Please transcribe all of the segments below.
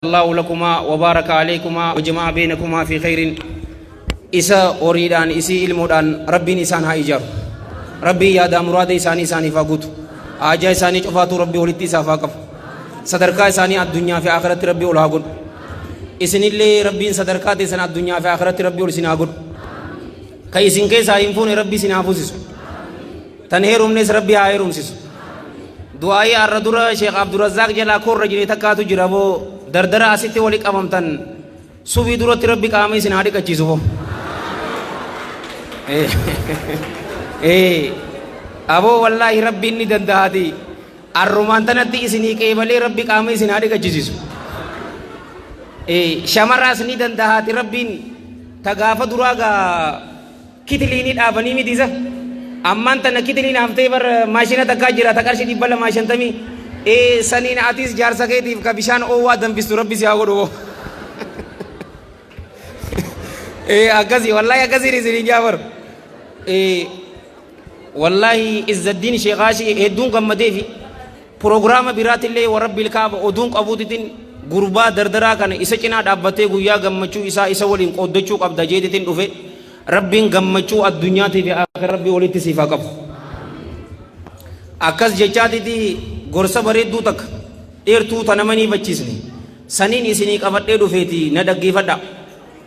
Allahu lakumaa wa baaraka alaykumaa wa jama'a baynakumaa fi khayrin isa horiidhaan isii ilmoodhaan rabbiin isaan haa ijaaru rabbiin yaadaa muraada isaanii isaaniif haa guutu haajaa isaanii cufaatuu rabbii walitti isaaf haa qabu sadarkaa isaanii addunyaa fi akhiratti rabbii ol haa godhu isinillee rabbiin sadarkaa teessan addunyaa fi akhiratti rabbii ol isin haa godhu ka isin keessaa hin fuune rabbii isin haa fuusisu Tan heerumnes rabbi haa heerumsisu. Du'aa'ii har'a dura Sheekh Abdurrazzaaq jalaa koorra jine takkaatu jira boo dardara asitti wali qabamtan sufii duratti rabbi qaama isin haa dhiqachiisu boo. Ee aboo wallaahi rabbi inni danda'aati. Arrumaan tanatti isinii qeebalee rabbi qaama isin haa dhiqachiisu. Ee shamaraas ni danda'aati rabbiin ta gaafa duraa gaa Kitiliini dhaabanii miti isa. Ammaan tana kitiliin haftee bar maashina takkaa jira ta qarshii dhibba lamaa shantamii. Ee saniin atiis jaarsa keetiif ka bishaan oowwaa danfistu rabbi si haa godhu boo. Ee akkasii wallaahi akkasiin isiniin jaa bar. Ee wallaahi Izzaddiin Sheekaashii hedduun gammadeefi. Prograama biraatillee wa Rabbil Ka'aba oduun qabuutitin gurbaa dardaraa kana isa cinaa dhaabbattee guyyaa gammachuu isaa isa waliin qooddachuu qabda jeetitin dhufe Rabbiin gammachuu addunyaatii fi aakhira Rabbii walitti siif haa qabu. Akkas jechaatiti gorsa bareedduu takka dheertuu ta nama hin hiifachiisne saniin isinii qabadhee dhufeeti na dhaggeeffadhaa.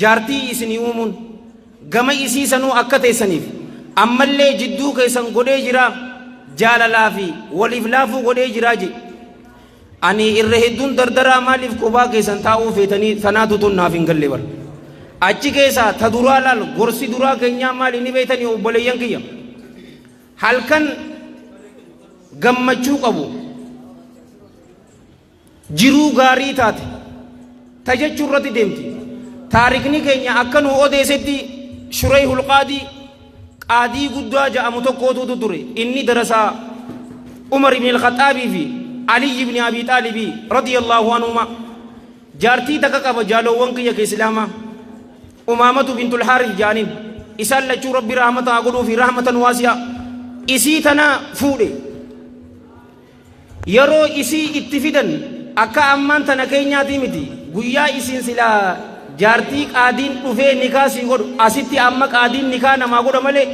jaartii isinii uumuun, gama isii sanuu akka teessaniif, ammallee jidduu keessan godhee jiraa, jaalalaa fi waliif laafuu godhee jiraa je. Ani irra hedduun dardaraa maaliif kophaa keessan taa'uu feetanii tanaatu tun naaf hin galle bar. Achi keessaa ta duraa laal gorsi duraa keenyaa maali ni beeytanii obboleeyyan kiyya. Halkan gammachuu qabu. jiruu gaarii taate ta jechuu irratti deemti taarikni keenya akka nuu odeesetti shuree hulqaadii qaadii guddaa ja'amu tokkootuutu ture inni darasaa umar ibn al-khaxaabii fi aliyyi ibn abii xaalibii radiyallaahu anhuma jaartii takka qaba jaaloowwan kiyya ka islaamaa umaamatu bintul haaris ja'aniin isaan lachuu rabbi rahmata haa godhuu fi rahmatan waasi'a isii tana fuudhe Yeroo isii itti fidan akka ammaan tana keenyaatii miti. Guyyaa isin silaa jaartii qaadiin dhufee nikaa sii godhu asitti amma qaadiin nikaa namaa godha malee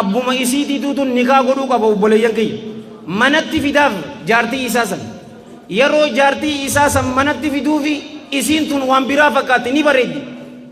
abbuma isiitiituu tun nikaa godhuu qaba obboleeyyan kiyya. Manatti fidaaf jaartii isaa san. Yeroo jaartii isaa san manatti fiduufi isiin tun waan biraa fakkaatti ni bareeddi.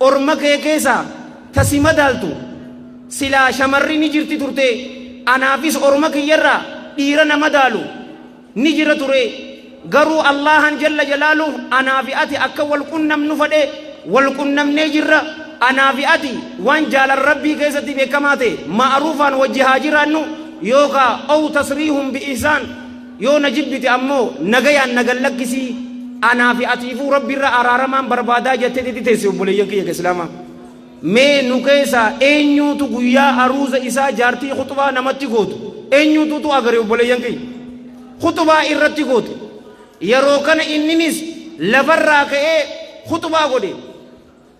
Orma kee keessaa ta si madaaltu silaa shamarri ni jirti turte, anaafis orma kiyya irraa dhiira na madaalu ni jira ture, garuu Allaahaan jalla jalaaluh anaa fi ati akka wal qunnamnu fedhe, wal qunnamnee jirra, anaa fi ati waan jaalala Rabbii keessatti beekamaa ta'e ma'aruufaan wajji haa jiraannu, yookaa, aw tasriihun bi ihsaan, Yoo na jibbite ammoo nagayaan na gad lakkisi, anaa fi atiifuu Rabbirra araaramaan barbaadaa jattee tetti teessi obboleeyyan kiyya ka Islaamaa. Mee nu keessaa eenyuutu guyyaa aruuza isaa jaartii khuxbaa namatti gootu eenyuutuutu agare obboleeyyan kiyya? Khuxbaa irratti goote. Yeroo kana inninis lafarraa ka'ee khuxbaa godhe.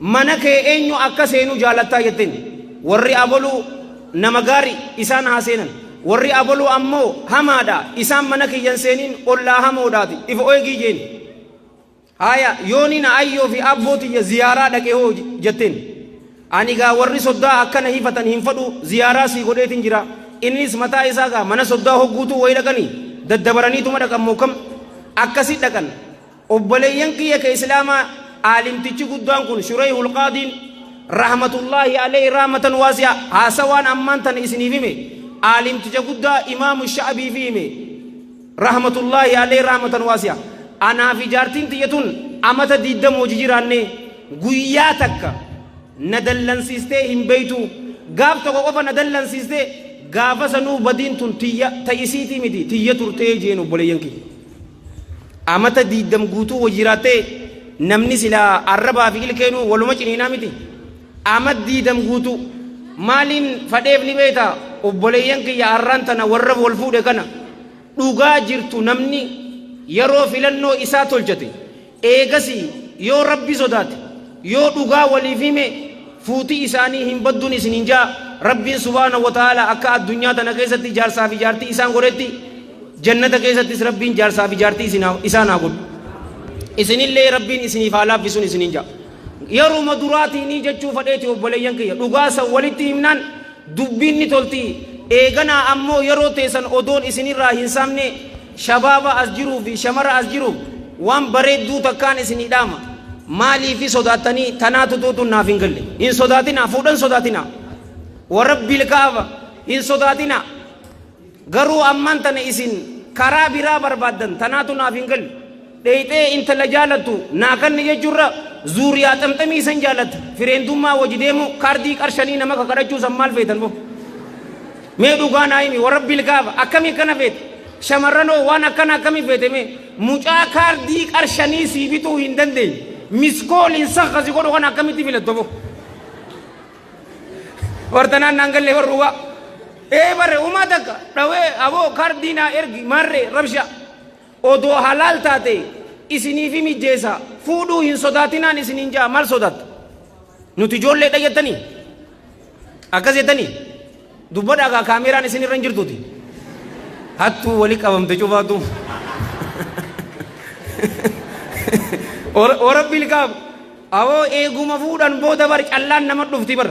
Mana kee eenyu akka seenu jaalatta? jetteen. Warri aboluu nama gaari, isaan haa seenan. Warri aboluu ammo hamaa dha, isaan mana kiyya hin seenin, ollaa hamoo dhaati. If oegii jeen. Haaya, yooni na ayyoo fi abboo tiyya ziyaaraa dhaqe hoo? jetteen. Ani gaa warri soddaa akkana hifatan hin fadhu, ziyaaraa sii godheetin jira. Innis mataa isaa gaa mana soddaa hogguutuu wayi dhaqani daddabaraniituma dhaqan moo kam? Akkasi dhaqan. Obboleeyyan kiyya ka Islaamaa aalimtichi guddaan kun Shureyhul Qaadiin rahmatullaahi aleyhi rahmatan waasi'a haasawaan ammaan tana isiniif hime aalimticha guddaa Imaamu Sha'abiifi hime rahmatullaahi aleyhi rahmatan waasi'a anaa fi jaartiin tiyya tun amata 20 wajji jiraanne guyyaa takka na dallansiistee hin beeytu gaaf tokko qofa na dallansiiste gaafa sanuu badiin tun tiyya ta isiitii miti tiyya turtee jeen obboleeyyan kiyya Amata diiddam guutuu wa jiraattee namni silaa arrabaa fi ilkeenuu waluma ciniinaa miti. Amat diidam guutuu maaliin fadheef ni beekta obboleeyyan kiyya arraan tana warra wal fuudhe kana dhugaa jirtu namni yeroo filannoo isaa tolchate Eegasii yoo Rabbi sodaate, yoo dhugaa waliif hime, fuuti isaanii hin baddun isiniin ja'a, Rabbiin subhaanahu wa ta'aalaa akka addunyaa tana keessatti jaarsaa fi jaartii isaan godhetti, jannata keessattis Rabbiin jaarsaa fi jaartii isin haa, isaan haa godhu. Isinillee Rabbiin isiniif haa laaffisun isiniin ja'a. Yeruma duraatiinii jechuu fadheeti obboleeyyan kiyya, dhugaa san walitti himnaan dubbiin ni tolti, eeganaa ammoo yeroo teessan odoon isinirraa hin saamne, Shabaaba as jiruu fi shamara as jiruuf waan bareedduu takkaan isinii dhaama. Maaliifi sodaattanii tanaa tutuu tun naaf hin galle. Hin sodaatinaa fuudhan sodaatinaa. Warabbil kaaba hin sodaatinaa. Garuu ammaan tana isin karaa biraa barbaaddan tanaatu naaf hin galle. Dheyxee intala jaalattu naa kanni jechurra zuuriyaa xamxamii isan jaalatta fireentummaa waji deemu kaardii qar shanii nama kakadhachuu san maal feetan bo mee dhugaa naa himi warabbil kaaba akkami akkana feete shamarran hoo waan akkana akkami feete mee mucaa kaardii qar shanii sii bituu hin dandeenye miskooliin san kasi godhu kana akkamitti filatta bo wartanaan naan gallee warra dhugaa ee bare umaa takka dhawee aboo kaardii naa ergi marree rabshaa Odoo halaal taate isiniifi mijjeessa fuudhuu hin sodaatinaan isiniin ja'a maal sodaatta? Nuti ijoolleedha jettanii? Akkas jettanii? Dubbadhaa kaa kaameeraan isin irra hin jirtuuti. Hattuu wali qabamte cufaatu. Warabbiil kaaf awoo eeguma fuudhan booda bar callaan nama dhufti bar.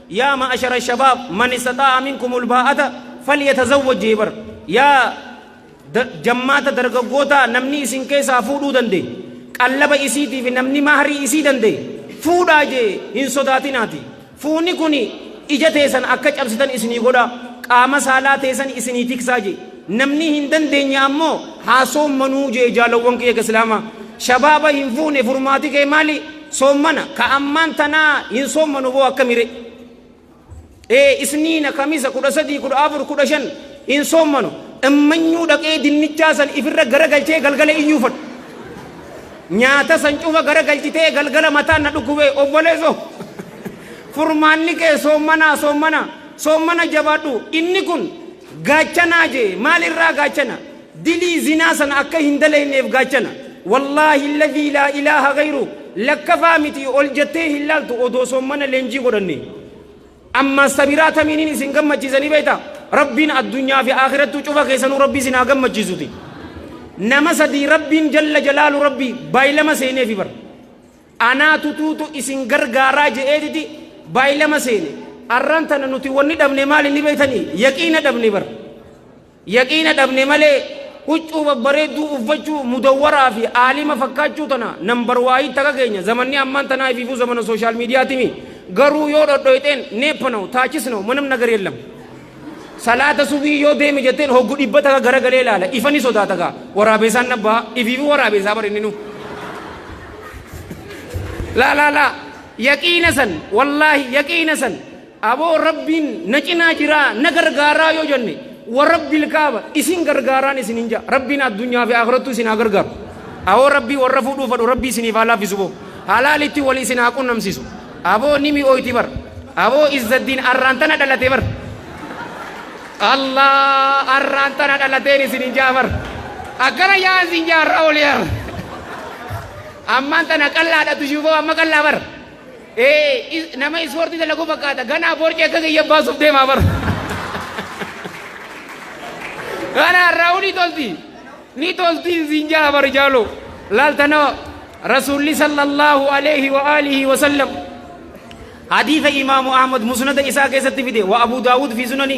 Yaa ma'ashara shabaab man istaxaa'a minkumul baa'ata falyatazawwaj jee bar yaa da jammaata dargaggootaa namni isin keessaa fuudhuu danda'e qallaba isiitii fi namni mahrii isii danda'e fuudhaa jee hin sodaatinaati fuuni kuni ija teesan akka cabsitan isinii godha qaama saalaa teesan isinii tiksaa jee namni hin dandeenye ammoo haa soommanuu jee jaalawwan kiyya ka islaamaa shabaaba hin fuune furmaati kee maali Soommana ka ammaan tanaa hin soommanu boo akkami re? Ee isniina, kamisa, kudha sadii, kudha afur, kudha shan hin soommanu. Immanyuu dhaqee dinnichaa san ifirra garagalchee galgala iyyuufadhu. Nyaata san cufa garagalchitee galgala mataan na dhukkubee obboleeso. Furmaanni kee soommanaa soommana soommana jabaadhu inni kun gaachanaa jee maalirraa gaachana Dilii zinaa sana akka hin dalayneef gaachana. Wallaahi alladhii laa ilaaha ghayruu lakkafaa miti ol jettee hin laaltu odoo soommana leenjii godhannee. Ammaas sabiraa tamiiniin isin gammachiisa ni beektaa? Rabbiin addunyaa fi aakhirattuu cufa keessanuu Rabbii isin haa gammachiisuti. Nama sadii Rabbiin jalla jalaalu Rabbii baay'ilama seeneefi bara. Anaa tutuutu isin gargaaraa je'eetiti baay'ilama seene. Arraan tana nuti wanni dhabne maali ni beektanii? Yaqiina dhabne bara. Yaqiina dhabne malee huccuu babbareedduu uffachuu, mudawwaraa fi aalima fakkaachuu tana number waayii taka keenya zamanni ammaan tanaa ifiifuu zamana social media timi garuu yoo dhodhoyxeen neeppa now taachis now manam nagar yellam salaata subii yoo deeme jetteen hoggu dhibba taka garagalee ilaala ifa ni sodaata gaa waraabeesaan nabbaa ifiifuu waraabeesaa bar inni nu laa laa laa yaqiina san wallaahi yaqiina san Aboo Rabbiin na cinaa jiraa, na gargaaraa yoo jenne, wa Rabbil Kaaba isin gargaaraan isiniin ja'a. Rabbiin addunyaa fi aakhirattuu isin haa gargaaru. Awoo Rabbii warra fuudhuu fadhu Rabbii isiniif haa laaffisu boo. Halaalitti wal isin haa qunnamsiisu. Aboo ni mi'ooyti bar. Aboo Izzaddiin arraan tana dhalate bar. Allah arraan tana dhalateen isiniin ja'a bar. Akkana ja'a isin ja'a har'a olii har'a. Ammaan tana qallaadha tushuu boo amma qallaa bar. Ee, is- nama ispoortii dalagu fakkaata. Ganaa boorci akka kiyya baasuuf deemaa bara. Ganaa raawuu ni tolti. Ni tolti siin jaa bari jaaloo. Laaltana Rasuulli sallallahu alaihi wa alihi wa sallam. Hadiisa imaamu Ahmad musnada isaa keessatti fide wa Abu Daawud fi sunani.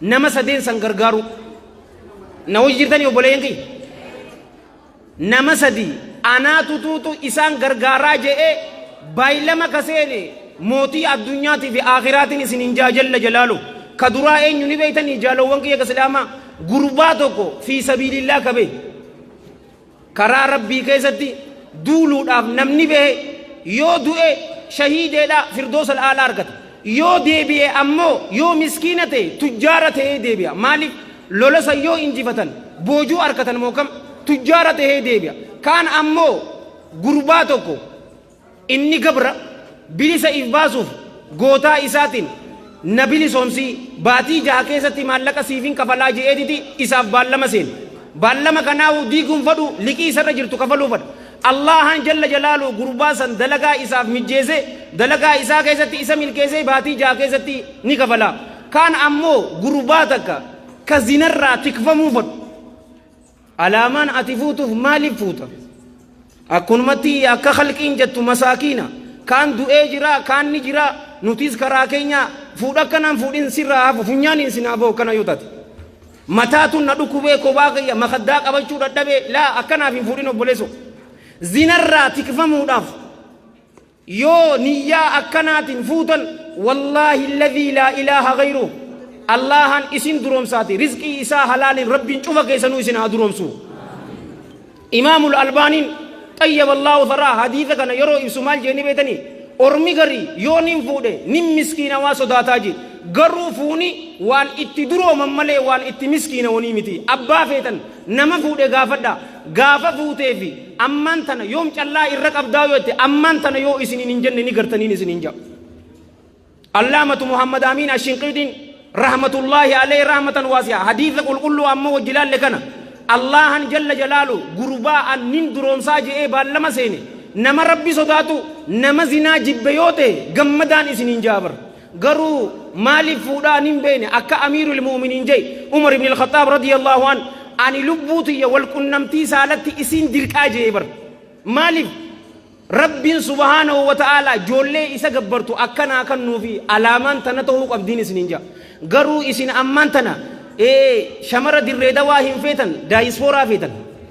Nama sadeen san gargaaruu. Na wajji jirtanii obboleeyyan kiyya? Nama sadii anaa tutuutu isaan gargaaraa je'ee baylama ka seene mootii addunyaatii fi aakhiraatiin isin hin jaa jalla jalaalu. Ka duraa eenyu ni beeytanii jaalowwan kiyya ka islaamaa? Gurbaa tokko fi sabiilillaah ka bahe. Karaa Rabbii keessatti duuluudhaaf namni bahe yoo du'e shahiideedha firdoosa al'aalaa argata. Yoo deebi'e ammoo yoo miskiina ta'e tujjaara ta'ee deebi'a. Maaliif lola san yoo injifatan boojuu argatan moo kam tujjaara ta'ee deebi'a. Kaan ammoo gurbaa tokko Inni gabra bilisa if baasuuf gootaa isaatiin na bilisoomsi, baatii jaha keessatti maallaqa siifin kafalaa je'eetiti isaaf baallama seene. Baallama kanaahu diiguun fadhu liqii isarra jirtu kafaluu fadha. Allaahaan jalla jalaaluhu gurbaa san dalagaa isaaf mijjeese, dalagaa isaa keessatti isa milkeessee baatii jaha keessatti ni kafala. Kaan ammoo gurbaa takka ka zinarraa tikfamuu fadhu. Alaamaan ati fuutuuf maaliif fuuta? Akkunumatti iyya akka khalqiin jettu masaakiina, kaan du'ee jiraa, kaan ni jiraa, nutiis karaa keenyaa, fuudha akkanaan fuudhin sirraa hafu funyaaniin sin haa bahu akkana yoo taate. Mataatu na dhukubee kophaa kiyya makhaddaa qabachuu dhadhabee laa akkanaaf hin fuudhin obboleesso. Zinarraa tikfamuudhaaf Yoo niyyaa akkanaatin fuutan wallaahi ladhii laa ilaaha gayruh Allaahaan isin duroomsaati rizqii isaa halaaliin rabbiin cufa keessanuu isin haa duroomsu. Imaamul Albaaniin xayyaba Allaahu tharaa hadiisa kana yeroo ibsu maal jeeni beetanii ormi garii yoo nin fuudhe nin miskiinawaa sodaataa jee garuu fuuni waan itti durooman malee waan itti miskiinawanii miti abbaa feetan nama fuudhe gaafadha gaafa fuutee fi Ammaan tana yoom callaa irra qabdaa yoo jette ammaan tana yoo isiniin hin jenne ni gartaniin isiniin ja'a. Allaamatu Muhammad Amiin Ashinqiidiin rahmatullaahi alayhi rahmatan waasi'a hadiisa qulqulluu amma wajji laalle kana Allaahan jalla jalaalu gurbaa an nin duroomsaa je'ee baallama seene nama rabbi sodaatu nama zinaa jibbe yoo ta'e gammadaan isiniin ja'a bara. Garuu maaliif fuudhaa ani hin beekne akka Amiirul Mu'uminiin jai Umar ibn al-Khaxxaab radiyallahu an ani lubbuu tiyya wal qunnamtii saalatti isiin dirqaa jee bar. Maaliif Rabbiin subhaanahu wa ta'aalaa joollee isa gabbartu akka naa kannuufi alaamaan tana tahuu qabdiin isiniin jaa. Garuu isin ammaan tana ee shamara dirree dawaa hin feetan daayispooraa feetan.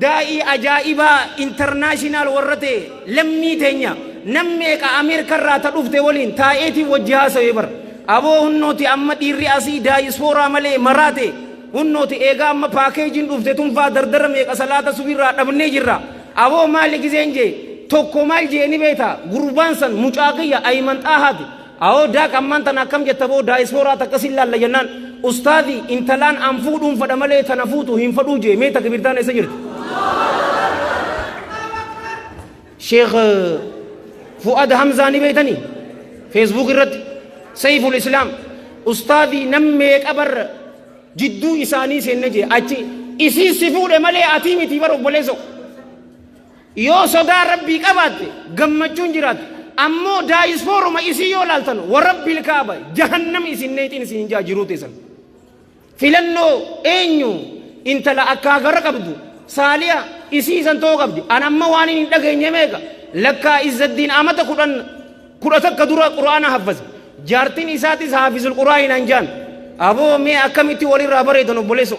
Daa'ii ajaa'ibaa international warra ta'e lammii teenya nam meeqa Ameerika irraa ta dhufte waliin taa'eetiin wajji haasawee bar. Aboo hunnooti amma dhiirri asii daayispooraa malee maraate hunnooti eegaa amma paakeejiin dhufte tunfaa dardara meeqa salaata subii irraa dhabnee jirra. Aboo maali gizeen jee tokko maal jee ni beekta gurbaan san mucaa kiyya Ayiman Xaahaati Awoo Daaq ammaan tana akkam jetta boo daayisfooraa takka sin laalla jennaan ustaazi intalaan an fuudhuun fadha malee tana fuutu hin fadhuu jee mee takbirtaan eessa jirti? Sheekh Fu'ad Hamzaa ni beektanii? Feesbuuk irratti Sayful Islaam ustaazi nam meeqa barra jidduu isaanii seenne jee achi isii si fuudhe malee atii miti bara obboleessoo. Yoo sodaa Rabbii qabaatte gammachuun jiraata. Ammoo daayispooruma isii yoo laaltan warabbil kaaba jahannam isin neexiin isin hin jaa jiruu teessan. Filannoo eenyu intala akkaa gara qabdu saaliya isii isan ta'uu qabdi. An amma waan hin dhageenye meeqa lakkaa izzaddiin amata kudhan kudha takka dura quraana haffase. Jaartiin isaatis haafizul quraahin hanjaan. Aboo mee akkamitti walirraa bareedan obboleessoo.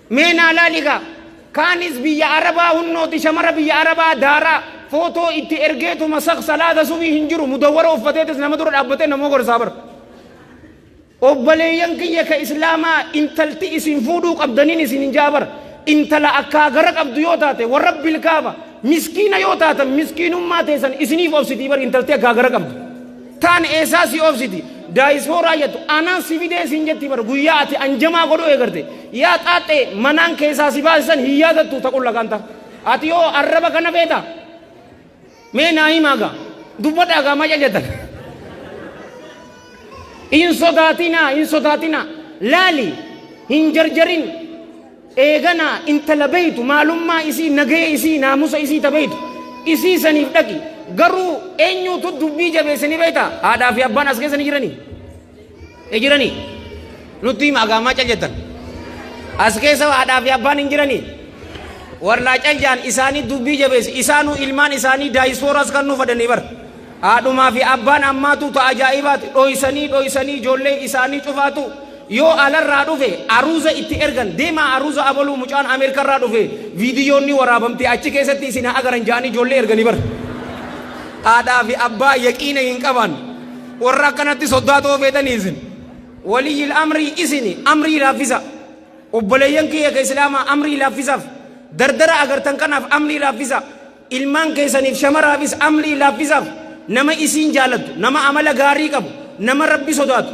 Mee naa laali kaa. Kaanis biyya arabaa hunnooti shamara biyya arabaa daaraa footoo itti ergeetuma sak salaata subii hin jiru mudawwara uffateetis nama dura dhaabbatee nama gorsaa bar. Obbaleeyyan kiyya ka islaamaa intalti isin fuudhuu qabdaniin isin hin ja'a bar. Intala akkaa gara qabdu yoo taate warabbil kaaba miskiina yoo taatan miskiinummaa teessan isiniif obsitii bar intalti akkaa gara qabdu. Taan eessaa si obsiti daayisfooraa jettu anaan si fidee siin jetti bar guyyaa ati anjamaa godhuu eegarte yaa xaaxxee manaan keessaa si baasisan hin yaadattu taqulla kaanta ati yoo arraba kana feeta mee naa himaa gaa dubbadhaa gaa maca jettan hin sodaatinaa hin sodaatinaa laali hin jarjarin Eeganaa intala beeytu maalummaa isii nagaya isii naamusa isii ta beeytu isii saniif dhaqi garuu eenyuutu dubbii jabeesse ni beeyta haadhaa fi abbaan as keessa ni jiranii ni jiranii nutti hima agaamaa cal jettan as keessa haadhaa fi abbaan hin jiranii warnaa cal jaan isaanii dubbii jabeesse isaanuu ilmaan isaanii daayisfooraas kan nuuf fadanii bara Haadhumaa fi abbaan ammaatu ta ajaa'ibaati. Dhoysanii dhoysanii ijoollee isaanii cufaatu yoo alarraa dhufe aruuza itti ergan. Deemaa aruuza abaluu mucaan Ameerikarraa dhufe viidiyoon ni waraabamte achi keessatti isin haa agaran ja'anii ijoollee ergani bar. Haadhaa fi abbaa yaqiina hin qabaan. Warra akkanatti soddaa ta'uu feetanii isin. Waliyyil amrii isini amrii laaffisa. Obboleeyyan kiyya ka Islaamaa amrii laaffisaaf. Dardara agartan kanaaf amrii laaffisa. Ilmaan keessaniif shamaraafis amrii laaffisaaf nama isiin jaalattu, nama amala gaarii qabu, nama Rabbi sodaatu,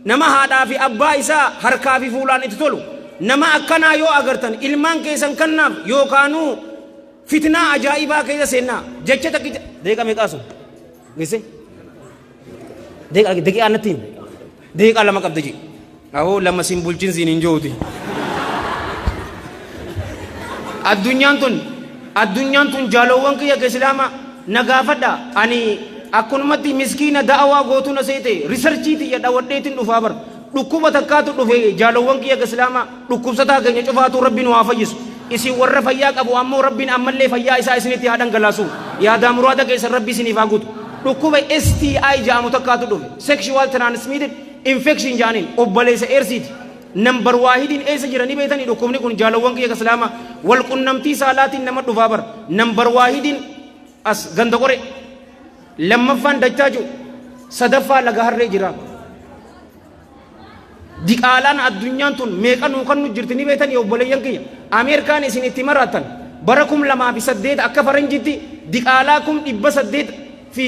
nama haadhaa fi abbaa isaa harkaa fi fuulaan itti tolu, nama akkanaa yoo agartan ilmaan keessan kannaaf yookaanuu fitnaa ajaa'ibaa keessa seennaa. Jecha takkicha, daqiiqa meeqaa sun? Gisse? Daqiiqaa natti himi. Daqiiqaa lama qabda jee. Ahoo lama siin bulchin siin hin jooti. Addunyaan tun addunyaan tun jaalowwan kiyya ka islaama na gaafadha ani akkunumatti miskiina da'awaa gootuna seete risarchii tiyya dhawadheetin dhufaa bar Dhukkuba takkaatu dhufe jaalowwan kiyya ka islaamaa, dhukkubsataa keenya cufaatuu Rabbi nu haa fayyisu. Isin warra fayyaa qabu ammoo Rabbiin ammallee fayyaa isaa isinitti haa dhangalaasu. Yaadaa muraada keessan Rabbi isiniif haa guutu. Dhukkuba STI ja'amu takkaatu dhufe, Sexual Transmitted Infection ja'aniin, obbaleessa Eedsiiti. Number waahidiin eessa jira ni beeytanii? Dhukkubni kun jaalowwan kiyya ka islaamaa, wal qunnamtii saalaatiin nama dhufaa bar. Number waahidiin as Ganda Qoree. Lammaffaan dachaa jiru. Sadaffaa laga harree jira. Diqaalaan addunyaan tun meeqa nuu kan nu jirti ni beetan yoo obboleeyyan kiyya. Ameerikaan isin itti maraattan bara kum lamaa fi saddeet akka faranjitti diqaalaa kum dhibba saddeet fi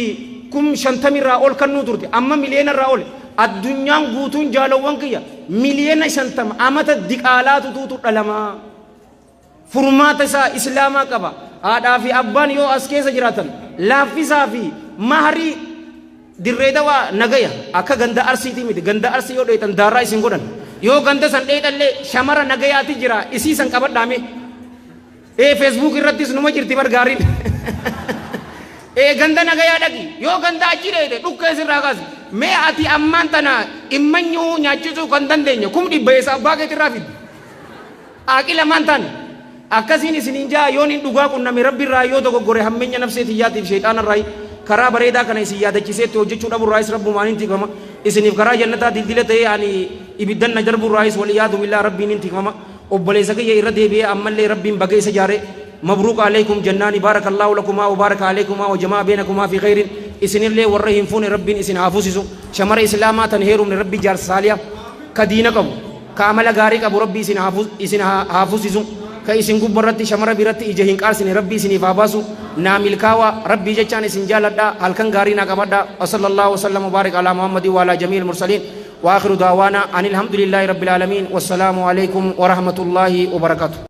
kum shantamirraa ol kan nuu turte amma miliyoonarraa ol addunyaan guutuun jaalawwan kiyya miliyoona shantama amata diqaalaa tutuutu dhalamaa. Furmaata isaa Islaamaa qaba. Haadhaa fi abbaan yoo as keessa jiraatan laaffisaa fi mahrii dirree dawaa nagaya akka ganda arsiitii miti ganda arsii yoo dheetan daarraa isin godhan yoo ganda san dheetallee shamara nagayaati jira isii san qabadhaame ee feesbuuk irrattis numa jirti bar gaariin ee ganda nagayaa dhaqi yoo ganda achi dheete dhukkee sirraa kaasi mee ati ammaan tana immanyuu nyaachisuu kan dandeenya kum dhibba eessa abbaa keetirraa fiddi Aaqila maan taane? Akkasiin isiniin ja'a, yoon in dhugaa qunname Rabbi irraa yoo dogoggore hammenya nafsee tiyyaati fi sheyxaana irraayi, karaa bareedaa kana isin yaadachisee itti hojjachuu dhabu irraayis Rabbumaan in tikfama, isiniif karaa jannataa dildila ta'ee ani ibiddan na darbu irraayis wal-iyaadu billaah Rabbiin in tikfama, obboleessa kiyya irra deebi'ee ammallee Rabbiin baga isa jaare mabruuk aleeykum jannaani baarakallaahu lakumaa wa baaraka aleeykumaa wa jama'a beenakumaa fi kheyriin, isinillee warra hin fuune Rabbiin isin haa fusisu, shamara islaamaa tan heerumne Rabbi jaarsa saaliha ka diina qabu. Ka amala gaarii qabu Rabbi isin haa isin haa fusisu ka isin gubba irratti shamara biratti ija hin qaarsine Rabbi isiniif haa baasu naa milkaawa Rabbii jechaan isin jaaladha halkan gaarii naa qabadha wasallallahu wasallam wabaarik alaa Muhammadin waalaa jamiil mursaliin waakhiru daawaana anilhamdulillaahi rabbil aalamiin wassalaamu aleeykum warahmatullaahi wabarakatu.